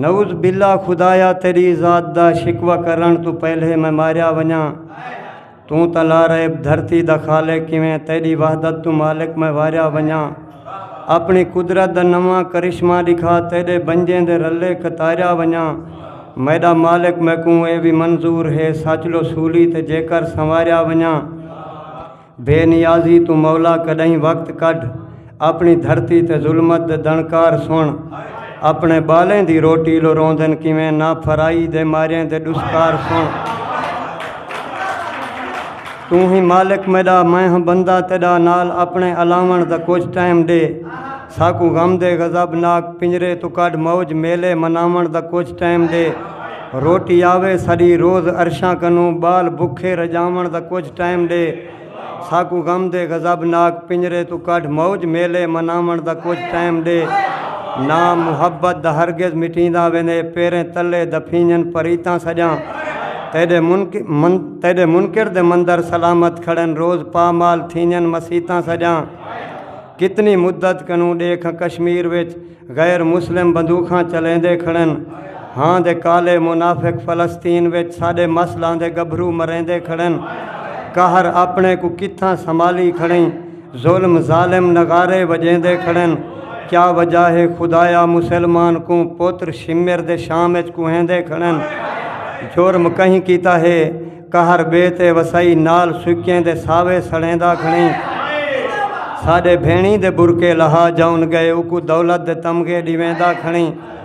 نعوذ باللہ خدایا تیری ذات دا شکوہ کرݨ توں پہلے میں ماریا ونڄاں توں تاں لارئب دھرتی دا خالق کیویں تیݙی وحدت توں مالک میں واریا ونڄاں اپݨی قدرت دا نواں کرشمہ ݙکھا تیݙے بنجیں دے رلے قطاریا ونڄاں میݙا مالک میکوں اے وی منظور ہے سچ لو سولی تے جیکر سنواریا ونڄاں بے نیازی توں مولا کݙاہیں وقت کڈھ اپݨی دھرتی تے ظلمت دے دݨکار سݨ اپݨے ٻالیں دی روٹی لو روندن کیویں نا پھرائی دے ماریاں دے ݙسکار سݨ توں ہی مالک میݙا میں ہاں بندہ تیݙا نال اپݨے الاوݨ دا کجھ ٹائم ݙے ساکوں غم دے غضب ناک پنجرے توں کڈھ موج میلے مناوݨ دا کجھ ٹائم ڈے روٹی آوے ساڈی روز عرشاں کنوں بال بکھے رجاوݨ دا کجھ ٹائم ڈے ساکوں غم دے غضب ناک پنجرے توں کڈھ موج میلے مناوݨ دا کجھ ٹائم ڈے نا محبت دا ہرگز مٹیندا ویندے پیریں تلے دفینجن پریتاں سجاں تیڈے تیڈے منکر دے مندر سلامت کھڑن روز پامال تھینجن مسیتاں سجاں۔ کتنی مدت کنوں ڈیکھاں کشمیر وچ غیر مسلم بندوخاں چلیندے کھڑن ہاں دے کالے منافق فلسطین وچ ساڈے مسلاں دے گبھرو مریندے کھڑن قہر اپنے کوں کتھاں سنبھالی کھڑیں ظلم ظالم نغارے وجیندے کھڑن کیا وجہ ہے خدایا مسلمان کوں پتر شمر دے شام وچ کوہیندے کھڑن جرم کہیں کیتا ہے قہر بے تے وسائی نال سکیں دے ساوے سڑیندا کھڑیں ساڈے بھینڑیں دے برکے لہا جاون گئے اوکوں دولت دے تمغے ڈیویندا کھڑیں۔